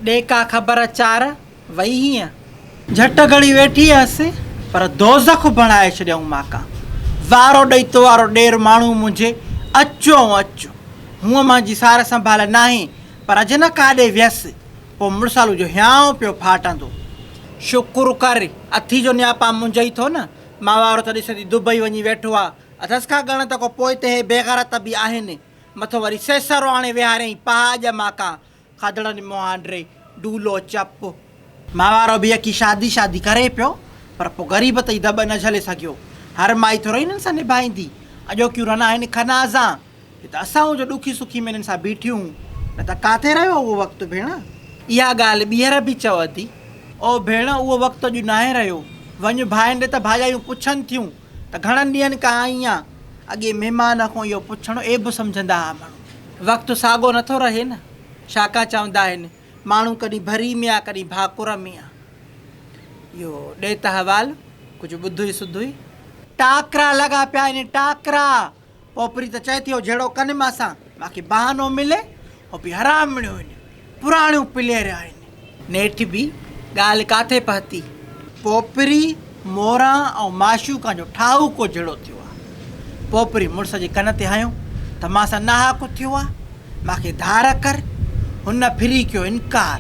ڏي ڪا خبر چار وئي هينء. جهٽ گهڙي ويٺي هيس پر دوزخ بڻائي ڇڏيائون ماڪا وارو ڏئي تو وارو ڏير ماڻهو منهنجي اچ ائون اچ هونء مان جي سار سنڀال ناهي پر اڄ نه ڪاڏي ويس پوء مڙسالو جو هيانء پيو ڦاٽندو شڪر ڪر اٿي جو نياپا منجهئي ٿو نه مان وارو ته ڏس ادي دبئي وڃي ويٺو آ اٿس ڪا ڳڻت ڪو پوئتي هي بيغيرت به آهن مٿو وري سيسرو آڻي ويهاريائين پاهه اڄ ماڪا کاڌڙا ني مهانڊري ڊولو چپ. ماء وارو به يڪي شادي شادي ڪري پيو پر پو غريب تئي دٻ نه جهلي سگهيو. هر مائي ٿورئي هنن سان نڀائيندي. اڄوڪيون رنا آهن خنازان. هي ته اسانئون جو ڏکي سکي ۾ هنن سان بيٺيون هون. نه ته ڪاٿي رهيو اهو وقت ڀيڻ. اها ڳالهه ٻيهر به چوندي. او ڀيڻ اهو وقت اڄ ناهي رهيو. وڃ ڀائن ڏي ته ڀاڄايون پڇن ٿيون. ته گهڻن ڏينهن کان آئينء اڳي مهمان کان اهو پڇڻ عيب سمجهندا ها ماڻهو. وقت ساڳو نٿو رهي نه. شاڪا چوندا آهن، ماڻهو ڪڏهن ڀري ۾ آ ڪڏهن ڀاڪر ۾ آ. اهو ڏيت حوال ڪجهه ٻڌوئي سڌوئي. ٽاڪرا لڳا پيا آهن، ٽاڪرا! اوپري ته چئي ٿيو جهيڙو ڪن مان سان باقي بهانو ملي او به حرامڻيون هن پراڻيون پلير آهن. نيٺ به ڳالهه ڪاٿي پهتي پوپري موران ۽ معشوقان جو ٺاهوڪو جهيڙو ٿيو آ پوپري مڙس جي ڪن تي هنيو ته مان سان ناحق ٿيو آ مانکي ڌار ڪر هن ڦري ڪيو انڪار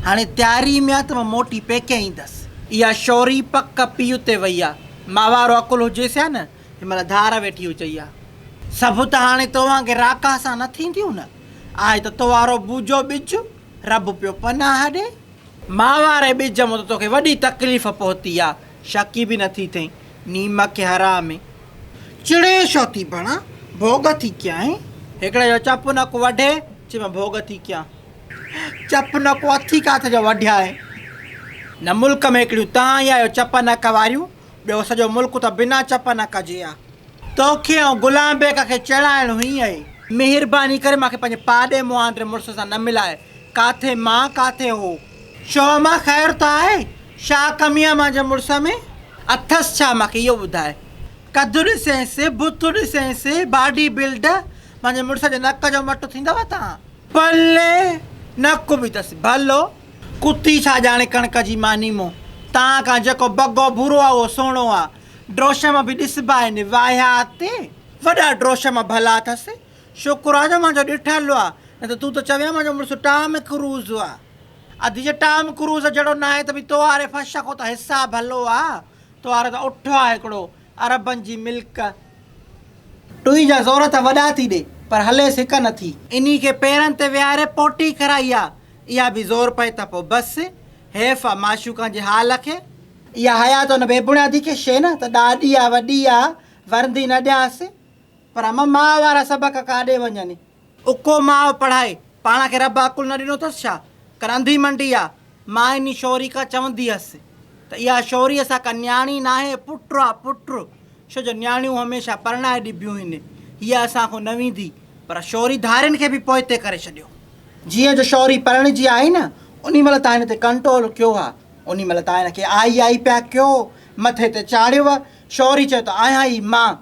هاڻي تياري ۾ آ ته مان موٽي پيڪي ايندس. اها شوري پڪ پيء تي وئي آ ماء وارو عقل هجيس ها نه هن مهل ڌار ويٺي هئي چئي ها. سڀ ته هاڻي توهان کي راڪاهه سان نه ٿينديون نه؟ آهي ته تو وارو بوجهو ٻج، رب پيو پناهه ڏي. ماء واري ٻج مون ته توکي وڏي تڪليف پهتي آ، شڪي به نه ٿي ٿئين، نيمڪي حرامي! چڙي ڇو ٿي بڻان، ڀوڳ ٿي ڪيائين. هڪڙي جو چپ نڪ وڍي، چي مان ڀوڳ ٿي ڪيان. چپ نڪ اٿي ڪاٿ جو وڍيائين. هن ملڪ ۾ هڪڙيون تان ئي آهيو چپ نڪ واريون. ٻيو سڄو ملڪ ته بنا چپ نڪ جي آ. توکي ۽ غلام بيگ کي چيڙائڻ هئي اهي. مهرباني ڪري مان کي پنهنجي پاڏي مهانڊري مڙس سان نه ملائي. ڪاٿي مان ڪاٿي هو. شوه مان خير ته آهي؟ شا ڪمي آ مانجي مڙس ۾؟ اٿس ڇا مان کي اهو ٻڌاء. قد ڏسينس، بت ڏسينس، باڊي بلڊ، مانجي مڙس جي نڪ جو مٽ ٿيندو توهان. پلي نڪ به تس ڀلو. ڪتي ڇا ڄاڻي ڪڻڪ جي ماني مون تان کان جيڪو بگو ڀورو آ اهو سهڻو آ. ڊروشم به ڏسبا آهن واهيا تي وڏا ڊروشم ڀلا اٿس. شڪر آ جو منهنجو ڏٺل آ نه ته تون ته چوين ها منهنجو مڙس ٽام ڪروز آ. ادي جي ٽام ڪروز جهڙو ناهي ته ڀي توهاري فش کان ته حساب ڀلو آ. توهارو ته اٺ آ هڪڙو عربن جي ملڪ. ٽوئي جا زور ته وڏا ٿي ڏي پر هليس هڪ نٿي. انهي کي پيرن تي ويهاري پوٽي ڪرائي آ. اها به زور پئي ته پوء بس. حيف آ معشوقان جي حال کي. اها حيات ان بي بڻيادي کي. شيء نه ته ڏاڏي آ وڏي آ ورندي نه ڏيانس. پر امان ماء وارا سبق ڪاڏي وڃن. اڪو ماء پڙهائي پاڻ کي رب عقل نه ڏنو اٿس ڇا؟ ڪن انڌي منڊي آ. مائني شوري کان چوندي هيس ته اها شوري اسان ڪن نياڻي ناهي پٽ آ پٽ. ڇو جو نياڻيون هميشه پرڻائي ڏبيون هين، هيء اسان کان نه ويندي، پر شوري ڌارين کي به پوئتي ڪري ڇڏيو. جيئن جو شوري پرڻجي آئي نه، انهي مهل تان هن تي ڪنٽرول ڪيو ها، انهي مهل تان هن کي آئي آئي پيا ڪيو، مٿي تي چاڙهيو. شوري چيو ته آهيان ئي مان.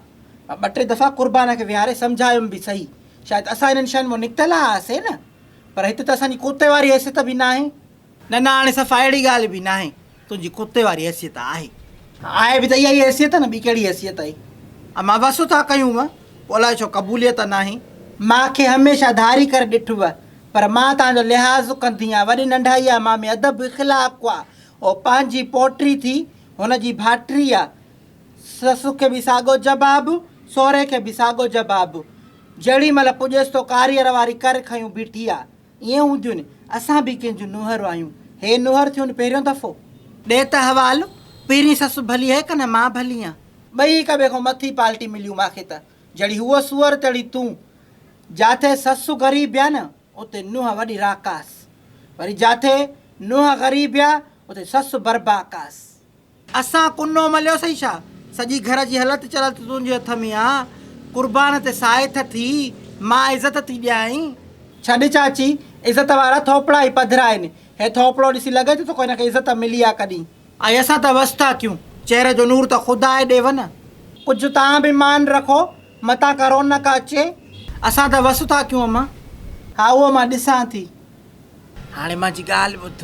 مان ٻه ٽي دفعا قربان کي ويهاري سمجهايم به سهي، شايد اسان انهن شين مان نڪتل آهياسين نه، پر هت ته اسان جي ڪوتي واري حيثيت به ناهي. نه نه هاڻي صفا اهڙي ڳالهه به ناهي تنهنجي ڪتي واري حيثيت آهي. آهي به ته اها ئي حيثيت نه ٻي ڪهڙي حيثيت آهي امان بس ٿا ڪيون مان پوء الائي ڇو قبوليت ناهي. مان کي هميشه ڌاري ڪري ڏٺو آهي پر مان توهان جو لحاظ ڪندي آهيان وڏي ننڍائي آهي مان ۾ ادب اخلاق آهي اهو پنهنجي پوٽي ٿي هن جي ڀائٽي آهي سس کي به ساڳو جباب سهري کي به ساڳو جباب جهڙي مهل پڄيس تو ڪاريئر واري ڪر کنيون بيٺي آهي. ائين هونديون اسان به ڪنهن جون نوهرون آهيون هي نوهر ٿيون پهريون دفعو. ڏي ته حوالو پهرين سس ڀلي هي ڪنه مان ڀلي هان. ٻئي هڪ ٻئي کان مٿي پالٽي مليون ماکي ته جهڙي هوء سوئر تهڙي تون جاٿي سس غريب يا نه اتي نوهه وڏي راڪاس وري جاٿي نوهه غريب يا اتي سس برباڪاس. اسان ڪنو مليو سئي ڇا؟ سڄي گهر جي هلت چلت تنهنجي هٿ ۾ آ. قربان تي سائي ٿه ٿي، مان عزت ٿي ڏيانء. ڇڏ چاچي، عزت وارا ٿوپڙا ئي پڌرا آهن. هي ٿوپڙو ڏسي لڳي ٿو ته ڪو هن کي عزت ملي آ ڪڏهن. اي اسان ته وس ٿا ٿيون، چهري جو نور ته خدا آهي ڏيو نه. ڪجهه توهان به مان رکو، متان ڪرونڪ اچي. اسان ته وس ٿا ٿيون اما. ها اهو مان ڏسان ٿي. هاڻي منهنجي ڳالهه ٻڌ.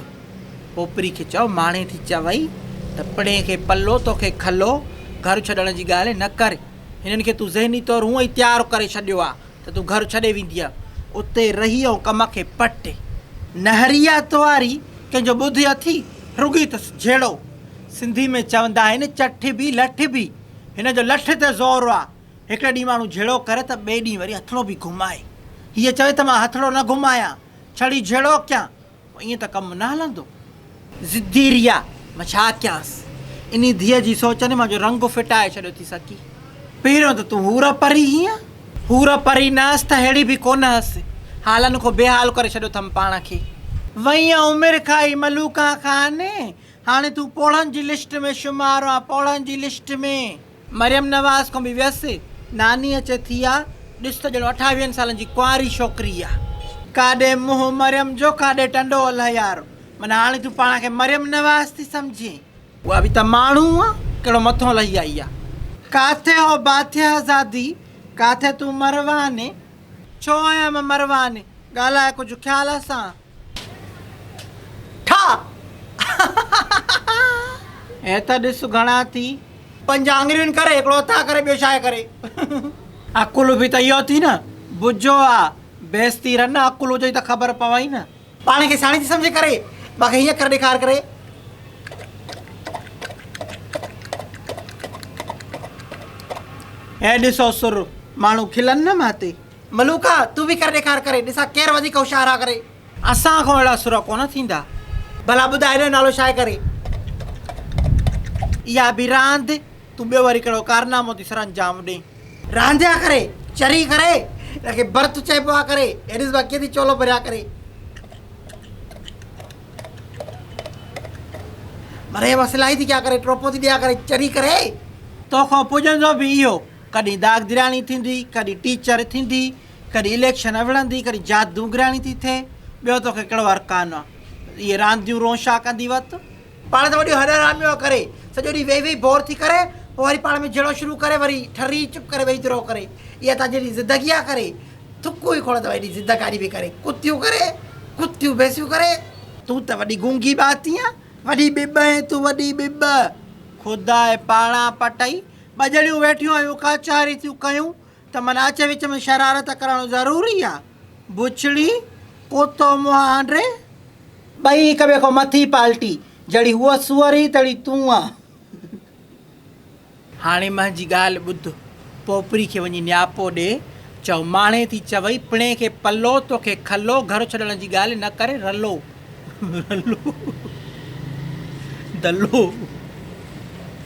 پوپري کي چئو ماڻي ٿي چوي ته پڻي کي پلو توکي کلو گهر ڇڏڻ جي ڳالهه نه ڪر. هنن کي تون ذهني طور هونئن ئي تيار ڪري ڇڏيو آ ته تون گهر ڇڏي وينديء. اتي رهي ائون ڪم کي پٽ. نهريا تواري ڪنهن جو ٻڌ اٿئي رڳي ته جهيڙو. سنڌي ۾ چوندا آهن چٺ ڀي لٺ ڀي. هن جو لٺ تي زور آ. هڪڙي ڏينهن ماڻهو جهيڙو ڪري ته ٻئي ڏينهن وري هٿڙو به گهمائي. هيء چوي ته مان هٿڙو نه گهمايان، ڇڙي جهيڙو ڪيان، پوء ائين ته ڪم نه هلندو. ضدي ريا، مان ڇا ڪيانس؟ انهيء ڌيء جي سوچ ني منهنجو رنگ ڦٽائي ڇڏيو ٿي سڪي. پهريون ته تون حور پري هئينء. حور پري نه هئس ته ههڙي به ڪونه هئس. حالن کان بي حال ڪري ڇڏيو ٿم پاڻ کي. وئينء عمر کائي ملوڪان کان. هاڻي تون پوڙهن جي لسٽ ۾ شمار آن، پوڙهن جي لسٽ ۾. مريم نواز کان به ويس. ناني اچي ٿي آ، ڏس ته ڄڻ اٺاويهن سالن جي ڪنواري ڇوڪري آ. ڪاڏي منهن مريم جو ڪاڏي ٽنڊو الهه يار. معنيٰ هاڻي تون پاڻ کي مريم نواز ٿي سمجهين. اها به ته ماڻهو آ، ڪهڙو مٿون لهي آئي آ. ڪاٿي هو باٿياه زادي، ڪاٿي تون مرواني. ڇو آهيان مان مرواني، ڳالهاء ڪجهه خيال سان. ٺاهه. هي ته ڏس گهڻا ٿي. پنج آڱريون ڪر هڪڙو هٿ آ ڪري ٻيو شاهه ڪري. عقل به ته اهو ٿي نه بجو آ بيستي رن عقل هجئي ته خبر پوئي نه. پاڻ کي سياڻي ٿي سمجهي ڪري ٻئا کي هيئن ڪري ڏيکار ڪري. هي ڏسو سر ماڻهو کلن نه ماتي. ملوڪا تون به ڪر ڏيکار ڪري ڏسان ڪير وڌيڪ هوشيار آ ڪري. اسان کان اهڙا سر ڪونه ٿيندا. ڀلا ٻڌاء هن جو نالو ڇا آهي ڪري. اها به راند تون ٻيو وري ڪهڙو ڪارنامو ٿي سرانجام ڏئين. راند آ ڪري چري ڪري هن کي برت چئبو آ ڪري هي ڏس ڀلا ڪيئن ٿي چولو ڀريا ڪري. مريم اصلاحي ٿي ڪيا ڪري ٽوپو ٿي ڏيا ڪري چري ڪري. توکان پڄندو به اهو. ڪڏهن داغدرياڻي ٿيندي، ڪڏهن ٽيچر ٿيندي، ڪڏهن اليڪشن وڙهندي، ڪڏهن جادوگرياڻي ٿي ٿئي، ٻيو توکي ڪهڙو هر ڪانه آ. اهي رانديون رون شاهه ڪندي وت تون. پاڻ ته وڏيو هڏ حراميو آ ڪري، سڄو ڏينهن ويهي ويهي بور ٿي ڪري، پوء وري پاڻ ۾ جهيڙو شروع ڪري، وري ٺري چپ ڪري ويهي درو ڪري. اها تنهنجي اهڙي زدگي آ ڪري، ٿڪون ئي کوڙ اٿئي ايڏي زدگاري به ڪري، ڪتيون ڪري، ڪتيون ڀيسيون ڪري. تون ته وڏي گونگي ٻاتي آ، وڏي ٻٻ آهين تون وڏي ٻٻ. خدا ئي پاڻان پٽئي ٻه ڄڻيون ويٺيون هيون ڪچهري ٿيون ڪيون ته من اچ وچ ۾ شرارت ڪرڻ ضروري آ. بڇڙي ڪتو منهن آنڊري. ٻئي هڪ ٻئي کان مٿي پالٽي. جهڙي هوء سوئر هئي تهڙي تون آن. هاڻي منهنجي ڳالهه ٻڌ. پوپري کي وڃي نياپو ڏي. چئو ماڻهي ٿي چوئي پڻي کي پلو توکي کلو گهر ڇڏڻ جي ڳالهه نه ڪري رلو رلو دلو.